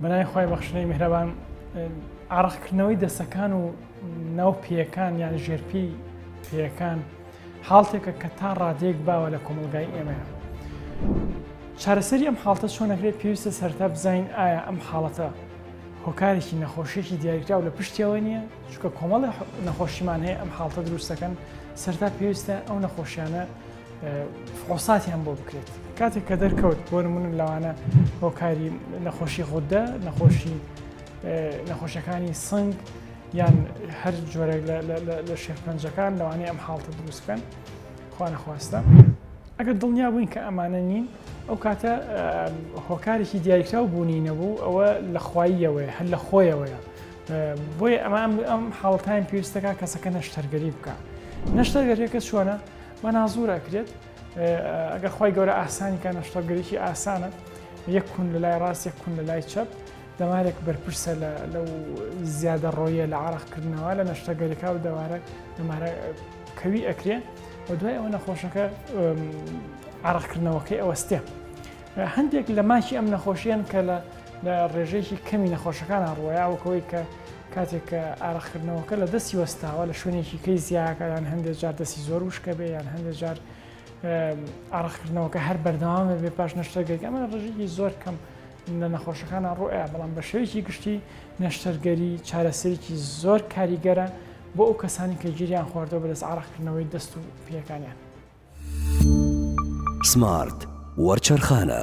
بەناوی خوای بەخشنەی میهرەبان ئارەقکردنەوەی دەسەکان و ناو پێەکان یان ژێرپی پێەکان حاڵتێکە کە تا ڕادێک باوە لە کۆمەلگای ئێمە چارەسەری ئەم حاڵتە چۆنەکرێت پێویستە سەرتا بزین ئایا ئەم حاڵەتە هۆکارێکی نەخۆشیێکی دیاریکراو لە پشتیەوە نییە چکە کۆمەڵی نەخۆشیمان هەیە ئەم حاڵتە دروستەکەن سەرتا پێویستە ئەو نەخۆشیانە فحۆساتیان بۆ بکرێت کاتێک کە دەرکەوت بۆ نمونە لەوانە هۆکاری نەخۆشی خوددە نەخۆشی نەخۆشەکانی سنگ یان هەر جۆرێک لە شێفپەنجەکان لەوانەیە ئەم حاڵتە دروستکەن خوانەخواستە ئەگەر دڵنیا بووین کە ئەمانە نین ئەو کاتە هۆکارێکی دیاریکراو بوونی نەبوو ئەوە لە خواییەوەی هەر لە خۆیەوەیە بۆیە ئەمان ئەم حاڵتان پێویستەکە کەسەکە نەشتەرگەری بکە نەشتەرگەریەکە چۆنە مەنازوور ئەکرێت ئەگەر خی گەورە ئاسانی کە نەشتەگەرێکی ئاسانە یەک کون لە لای ڕاست یەک کون لە لای چەپ دەمارێک بەرپرسە لەو زیادە ڕۆیە لە عراقکردنەوە لە نەشتەگەرێکا و دەوارە دەمارە کەوی ئەکرێ و دوای ئەوە نەخۆشەکە عراقکردنەوەکەی ئەوەستێ هەندێک لە ماکی ئەم نەخۆشیان کە لە لە ڕێژەیەکی کەمی نەخۆشەکان ڕۆیاوەکەوەی کە کاتێک کە ئارەقکردنەوەکە لە دەستی وەستاوە لە شوێنێکی کەی زیاکە یان هەندێک جار دەستی زۆر وشکە بێ یان هەندێک جار ئارەقکردنەوەکە هەر بەردەوام بێ پاش نەشتەرگەری ئەمە ڕژێکی زۆر کەم لە نەخۆشەکانە ڕۆیە بەڵام بە شێوێکی گشتی نەشتەرگەری چارەسەرێکی زۆر کاریگەرە بۆ ئەو کەسانی کە گیریان خواردەوە بەدەست ئارەقکردنەوەی دەست و پێەکانیان سمارت وەرچەرخانە.